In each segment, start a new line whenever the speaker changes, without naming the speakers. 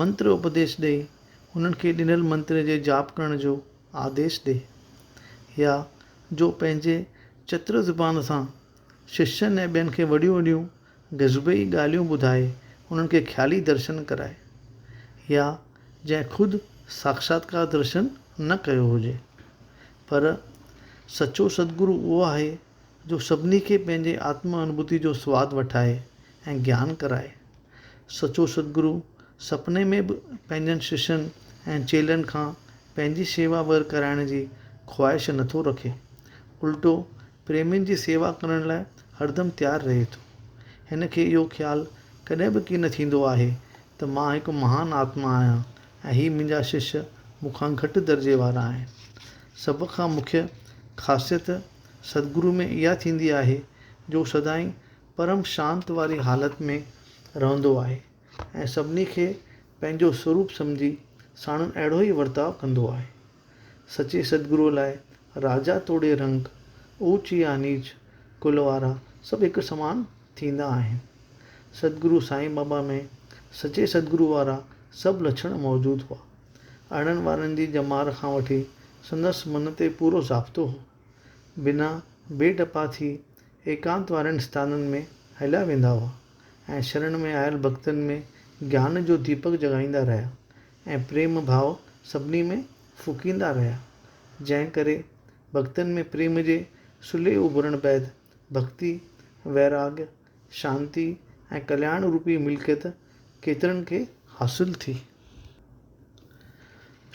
منتر اپديش ڏئي هنن کي ڏنل منتر جي جاپ ڪرڻ جو آديش ڏي يا جو پنهنجي چتر زبان سان ششين ۽ ٻين کي وڏيون وڏيون غيظبي ڳالهيون ٻڌائي انهن کي خيالي درشن ڪرائي يا جنهن خود ساکشاتڪار درشن نه ڪيو هجي پر سچو سدگرو اهو آهي جو سڀني کي پنهنجي آتم انڀوتيء جو سواد وٺائي ۽ گيان ڪرائي. سچو ستگرو سپني ۾ به پنهنجن ششين ۽ چيلن کان پنهنجي شيوا ور ڪرائڻ جي خواهش نه ٿو رکي، الٽو پريمين جي سيوا ڪرڻ لاء هردم تيار رهي ٿو. هن کي اهو خيال ڪڏهن به ڪين ٿيندو آهي ته مان هڪ مهان آتما آهيان ۽ هي منهنجا شش مون کان گهٽ درجي وارا آهن. سڀ کان مکيه خاصيت سدگرو ۾ اها ٿيندي آهي جو سدائين پرم شانت واري حالت ۾ رهندو آهي ۽ سڀني کي پنهنجو سوروپ سمجهي ساڻن اهڙو ئي ورتاء ڪندو آهي. سچي سدگرو لاء راجا توڙي رنڪ، اوچ يا نيچ ڪل وارا سڀ هڪ سمان ٿيندا آهن. سدگرو سائين بابا ۾ سچي سدگرو وارا سڀ لڇڻ موجود هئا. آڻڻ وارن جي ڄمار کان وٺي سندس من تي پورو ضابطو هو. بنا بي ڊپا ٿي ايڪانت وارن اسٿانن ۾ هليا ويندا هئا ۽ شرڻ ۾ آيل ڀڳتن ۾ گيان جو ديپڪ جڳائيندا رهيا ۽ پريم ڀاء سڀني ۾ ڦوڪيندا رهيا. جنهن ڪري ڀڳتن ۾ پريم جي سلهي اڀرڻ بعد ڀڳتي، ويراڳ ۽ شانتي ۽ ڪلياڻ روپي ملڪيت ڪيترن کي حاصل ٿي.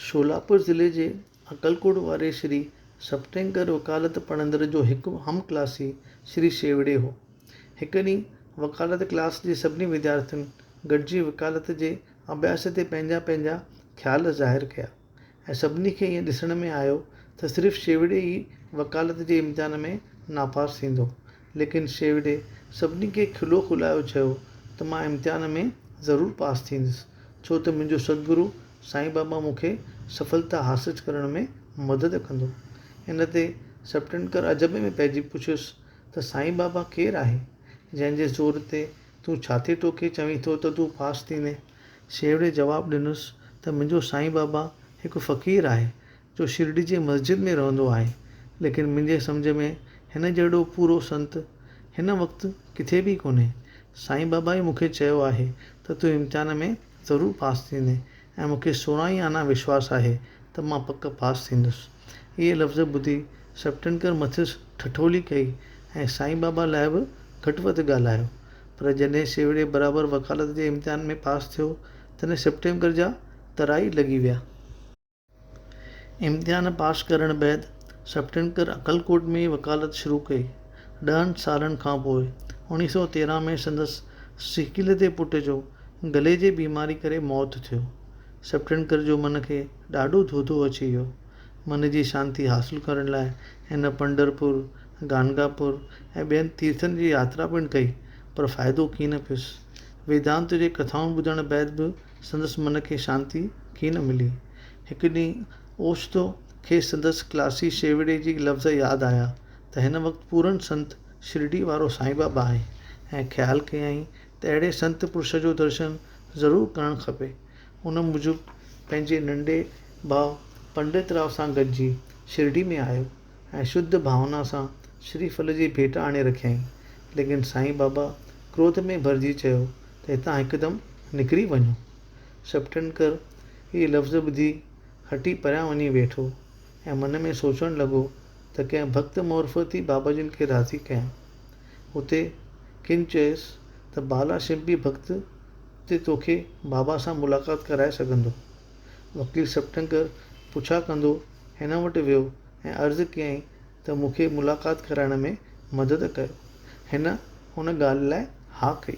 شولاپور ضلعي جي اڪلڪوٽ واري شري سپٽينڪر وڪالت پڙهندڙ جو هڪ هم ڪلاسي شري شيوڙي هو. هڪ ڏينهن وڪالت ڪلاس جي سڀني وديارٿين گڏجي وڪالت جي اڀياس تي پنهنجا پنهنجا خيال ظاهر ڪيا. ۽ سڀني کي ائين ڏسڻ ۾ آيو ته صرف شيوڙي ئي وڪالت جي امتحان ۾ ناپاس ٿيندو. ليڪن شيوڙي سڀني کي کلو کلايو چيو ته مان امتحان ۾ ضرور پاس ٿيندس ڇو ته منهنجو ستگرو سائين بابا مون کي سڦلتا حاصج ڪرڻ ۾ مدد ڪندو. ان تي سپٽنڪر عجب ۾ پئجي پڇيس ته سائين بابا ڪير آهي جنهن جي زور تي تون ڇاتي ٽوڪي چوين ٿو ته تون پاس ٿيندين. شيوڙي جواب ڏنس ته منهنجو سائين بابا هڪ فقير آهي جو شرڊي جي مسجد ۾ رهندو آهي ليڪن منهنجي سمجهه ۾ هن جهڙو پورو سنت هن وقت ڪٿي به ڪونهي سائين بابا ئي مونکي چيو آهي ته تون امتحان ۾ ضرور پاس ٿيندين ۽ مونکي سورهن ئي آنا وشواس آهي ته مان پڪ پاس ٿيندس. اهي لفظ ٻڌي سپٽنڪر مٿس ٺٺولي ڪئي ۽ سائين بابا لاء به گهٽ وڌ ڳالهايو. پر جڏهن سيوڙي برابر وڪالت جي امتحان ۾ پاس ٿيو، تڏهن سپٽنڪر جا ترا ئي لڳي ويا. امتحان پاس ڪرڻ بعد سپٽنڪر عقلڪوٽ ۾ وڪالت شروع ڪئي. ڏهن سالن کان پوء اوڻيهه سؤ تيرنهن ۾ سندس سڪيلڌي پٽ جو گلي جي بيماري ڪري موت ٿيو. سپٽنڪر جو من کي ڏاڍو ڌوڌو اچي ويو. من جي شانتي حاصل ڪرڻ لاء هن پنڍرپور، گانگاپور ۽ ٻين تيرٿن جي ياترا پڻ ڪئي، پر فائدو ڪين پيس. ويدانت جي ڪٿائون ٻڌڻ بعد به سندس من کي شانتي ڪين ملي. هڪ ڏينهن اوچتو کيس سندس ڪلاسي شيوڙي جي لفظ ياد آيا ته هن وقت پورن سنت شرڊي وارو سائين بابا آهي ۽ خيال ڪيائين ته اهڙي سنت پرش جو درشن ضرور ڪرڻ کپي. ان موجب پنهنجي ننڍي ڀاء پنڊت راء سان گڏجي شرڊي ۾ آيو ۽ شڌ ڀاونا سان شري ڦل جي ڀيٽ آڻي رکيائين. ليڪن سائين بابا ڪروڌ ۾ ڀرجي چيو ته هتان هڪدم نڪري وڃو. شپٽنڪر هي لفظ ٻڌي هٽي پريان وڃي ويٺو ۽ من ۾ سوچڻ لڳو ته ڪنهن ڀڳت معرفت ئي بابا جن کي راضي ڪيا. اتي ڪن چيس ته بالا شنپي ڀڳت تي توکي بابا سان ملاقات ڪرائي سگهندو. وڪيل سپٽنڪر پڇا ڪندو هن وٽ ويو ۽ عرض ڪيائين ته مون کي ملاقات ڪرائڻ ۾ مدد ڪيو. هن ان ڳالهه لاء ها ڪئي.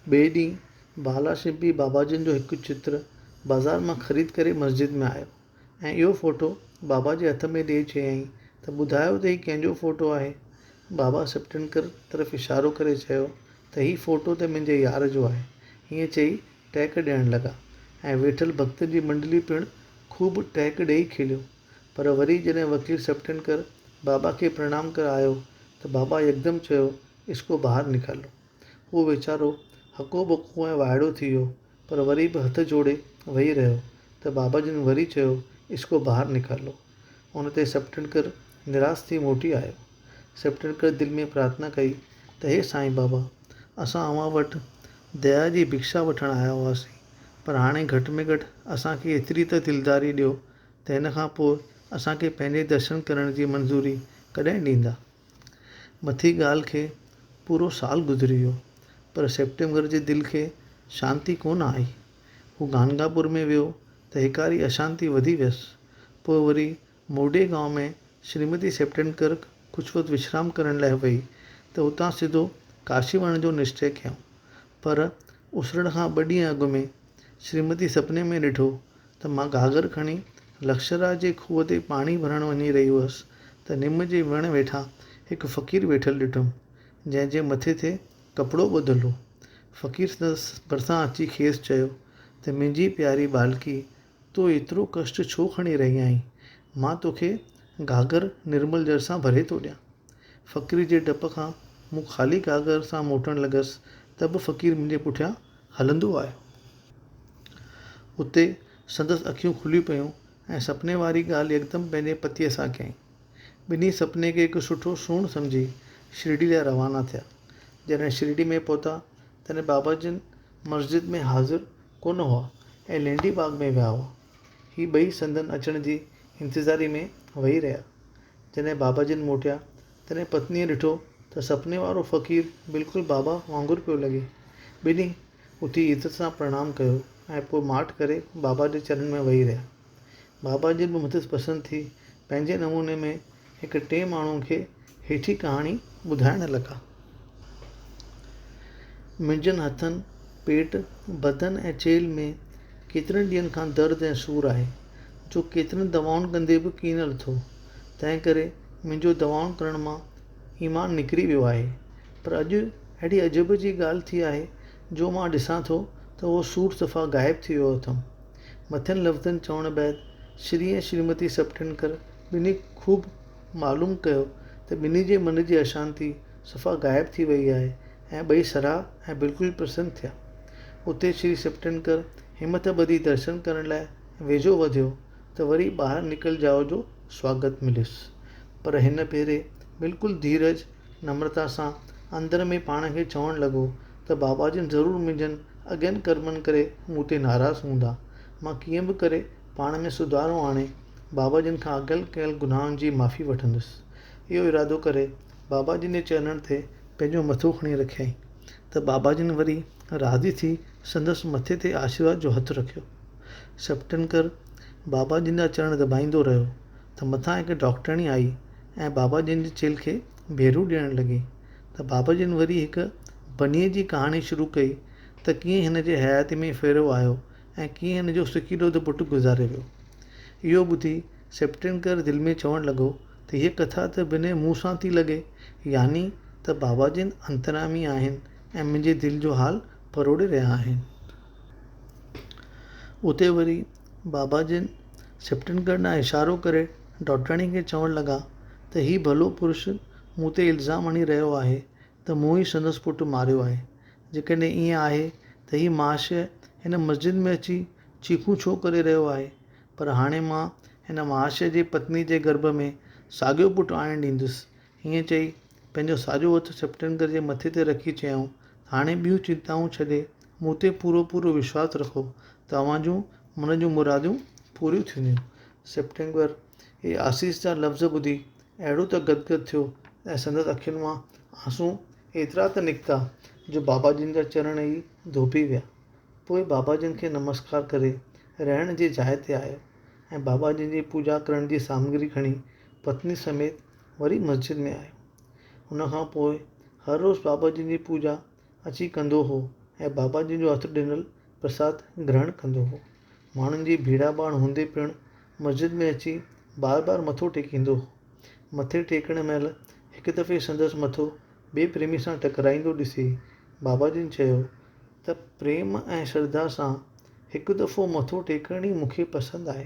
ٻئي ڏينهن بالا شنپي باباجن جو هڪ چتر بازار مان خريد ڪري مسجد ۾ آيو. ۽ اهو فوٽو بابا جي هٿ ۾ ڏيئي چيائين ته ٻڌايو ته هي ڪنهن جو فوٽو آهي؟ بابا سپٽنڪر طرف اشارو ڪري چيو ته هي فوٽو ته منهنجي يار جو آهي. ائين چئي ٽهڪ ڏيڻ لڳا ۽ ويٺل ڀڳتن جي منڊلي پڻ خوب ٽهڪ ڏيئي کليو. پر وري جڏهن وڪيل سپٽنڪر بابا کي پرڻام ڪرڻ آيو ته بابا يڪدم چيو اسڪو باهر نڪالو. هو ويچارو هڪو ٻڪو ۽ وائڙو ٿي ويو. پر وري به هٿ جوڙي ويهي رهيو ته بابا جن وري چيو اسڪو باهر نڪالو. ان تي سپٽنڪر نراس ٿي موٽي آيو. سپٽنڪر دل ۾ پرارٿنا ڪئي ته هي سائين بابا اسان اوهان وٽ ديا جي ڀڪشا وٺڻ آيا هئاسين پر هاڻي گهٽ ۾ گهٽ اسان کي ايتري ته دلداري ڏيو ته هن کان پوء اسان کي پنهنجي درشن ڪرڻ جي منظوري ڪڏهن ڏيندا. مٿين ڳالهه کي پورو سال گذري ويو، پر سيپٽمبر جي دل کي شانتي ڪونه آئي. هو گانگاپور ۾ ويو ته هيڪاري اشانتي وڌي ويس. پوء وري موڊي گانو ۾ شريمتي سيپٽنڪر ڪجهه وقت وشرام ڪرڻ لاء وئي ته اتان سڌو ڪاشي وڃڻ جو نشچي ڪيائون. پر اسرڻ کان ٻه ڏينهن اڳ ۾ شريمتي سپني ۾ ڏٺو ته مان گاگر کڻي لڪشرا جي کوهه تي پاڻي ڀرڻ وڃي رهي هئس ته نم جي وڻ ويٺان هڪ فقير ويٺل ڏٺم، جنهن جي مٿي تي ڪپڙو ٻڌل هو. فقير سندس ڀرسان اچي کيس چيو ته منهنجي پياري ٻالڪي، تو ايترو ڪشٽ ڇو کڻي رهي آهين؟ مان توکي گاگر نرمل جر سان ڀري ٿو ڏيان. فقير جي ڊپ کان مون خالي گاگر سان موٽڻ لڳس ته به فقير منهنجي پٺيان هلندو آيو. اتي سندس اکيون کليون پيون ۽ سپني واري ڳالهه يڪدم پنهنجي پتيء سان ڪيائين. ٻنهي سپني کي هڪ سٺو سونهن سمجهي شرڊي لاء روانا ٿيا. جڏهن شرڊي ۾ پهتا تڏهن بابا جن مسجد ۾ حاضر ڪونه هئا ۽ لينڊي باغ ۾ ويا هئا. هي ٻئي سندن اچڻ جي انتظاري ۾ ويهي رهيا. جڏهن بابا جن موٽيا تڏهن پتنيء ڏٺو ته سپني وارو فقير بلڪل بابا وانگر پيو لڳي. ٻنهي اٿي عزت سان پرڻام ڪيو ۽ پوء ماٺ ڪري بابا جي چرن ۾ ويهي رهيا. بابا جي به مٿس پسند ٿي پنهنجي نموني ۾ هڪ ٽئين ماڻهوء کي هيٺين ڪهاڻي ٻڌائڻ لڳا. منهنجن هٿن، پيٽ، بدن ۽ چيلهه ۾ ڪيترن ڏينهن کان درد ۽ سور آهي، جو ڪيترين دوائن ڪندي به ڪين لٿو. تنهن ڪري منهنجو دوائن ڪرڻ مان ايمان نڪري ويو آهي. پر اڄ اهڙي عجب جي ڳالهه ٿي آهي جو مان ڏسان ٿو ته اهو سوٽ صفا غائب ٿي ويو اٿم. مٿين لفظن چوڻ بعد شري ۽ شريمتي سپٽينڪر ٻنهي خوب معلوم ڪيو ته ٻنهي جي من جي اشانتي صفا غائب ٿي وئي آهي ۽ ٻئي سرها ۽ بلڪل پرسن ٿيا. اتي شري سپٽينڪر همٿ ٻڌي درشن ڪرڻ لاء ويجهو وڌيو. ته وري ٻاهر نڪلجاء جو سواگت مليس. پر هن ڀيري بلڪل ڌيرج، نمرتا سان اندر ۾ پاڻ کي چوڻ لڳو ته بابا جن ضرور منهنجن اڳين ڪرمن ڪري مون تي ناراض هوندا. مان ڪيئن به ڪري پاڻ ۾ سڌارو آڻي بابا جن کان اڳيل ڪيل گناهن جي معافي وٺندس. اهو ارادو ڪري بابا جن جي چرنن تي پنهنجو مٿو کڻي رکيائين ته بابا جن وري راضي ٿي سندس مٿي تي آشيرواد جو هٿ رکيو. سپٽنڪر بابا جن جا چرڻ دٻائيندو رهيو ته مٿان هڪ ڊاڪٽرڻي آئي ۽ بابا جن جي چيلهه کي ڀيرون ڏيڻ لڳي ته بابا جن وري هڪ بنيء جي ڪهاڻي شروع ڪئي ته ڪيئن هن جي حياتيء ۾ ڦيرو آيو ۽ ڪيئن هن جو سڪيلو ته پٽ گذاري ويو. اهو ٻڌي سپٽنڪر دل ۾ چوڻ لڳو ته هيء ڪٿا ته بنهه مون سان ٿي لڳي، يعني ته بابا جن انتريامي آهن ۽ منهنجي دل جو حال پروڙي رهيا آهن. اتي وري بابا جن سپٽن ڳڙهه ڏانهن اشارو ڪري ڊاڪٽرياڻي کي چوڻ لڳا ته هي ڀلو پرش مون تي الزام هڻي رهيو آهي ته مون ئي سندس پٽ ماريو آهي. جيڪڏهن ائين آهي ته هي مهاشيه هن مسجد ۾ اچي چيخون ڇو ڪري رهيو آهي؟ پر هاڻي مان هن مهاشيه جي پتني جي گرڀ ۾ ساڳيو پٽ آڻڻ ڏيندس ائين چئي، پنهنجو ساڄو هٿ سيپٽينگر جي مٿي تي رکي چيائون، هاڻي ٻيون چنتائون ڇڏي، مون تي پورو پورو وشواس رکو ته اوهان جون من جون مرادون پوريون ٿينديون. سيپٽينگر اهي آسيس جا لفظ ٻڌي اهڙو ته گدگد ٿيو ۽ سندس اکين مان آنسون ايترا ته نڪتا جو بابا جن جا چرڻ ئي ڌوپي ويا. پوء بابا جن کي نمسڪار ڪري رهڻ جي جاء تي آيو ۽ بابا جن جي پوڄا ڪرڻ جي سامگري کڻي پتني سميت وري مسجد ۾ آيو. ان کان پوء هر روز بابا جن جي پوڄا اچي ڪندو هو ۽ بابا جن جو هٿ ڏنل پرساد گرهڻ ڪندو هو. ماڻهن جي ڀيڙاڀاڻ هوندي پڻ مسجد ۾ اچي بار بار مٿو ٽيڪيندو هو. مٿي ٽيڪڻ مهل هڪ دفعي سندس مٿو ٻئي پريمي سان ٽڪرائيندو ڏسي بابا جن چيو ته پريم ۽ شرڌا سان هڪ دفعو مٿو ٽيڪڻ ئي مون کي پسند آهي.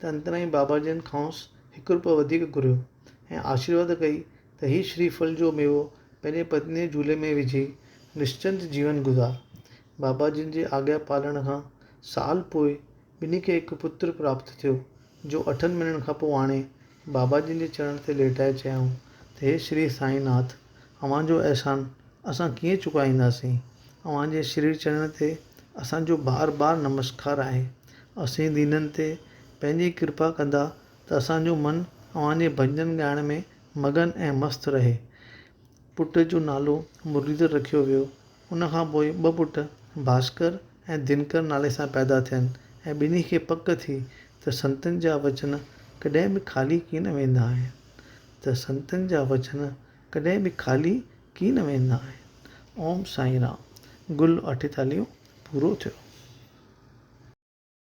ته انترائي بابا جن کانئس هڪ روپيو وڌيڪ گهريو ۽ آشيرواد ڪئي ته هي شري ڦل جو ميوو پنهنجي پتنيء جي جهولي ۾ وجهي نشچنت جيون گذار. بابا جن جي آگيا پالڻ کان سال پوء ٻنهي کي هڪ پتر پراپت ٿيو، جو اٺن مهينن کان پوء آڻي بابا جن جي چرڻن تي ليٽائي چيائون ته هي شري سائين ناٿ! اوهان جو احسان اسان ڪيئن چڪائينداسين؟ اوهان جي شري چرڻن تي اسان جو بار بار نمسڪار آهي. اسين دينن تي پنهنجي ڪرپا ڪندا ته اسان جو من اوهان جي ڀڄن ڳائڻ ۾ مگن ۽ مست رهي. پٽ جو نالو مرليڌر رکيو ويو. ان کان پوء ٻه پٽ ڀاسڪر ۽ دنڪر نالي سان پيدا ٿين ۽ ٻنهي کي پڪ ٿي ته سنتن جا وچن ڪڏهن به خالي ڪين ويندا آهن ته سنتن جا وچن ڪڏهن به خالي ڪي نه ويندا آهن. اوم سائين رام گل اٺيتاليون پورو ٿيو.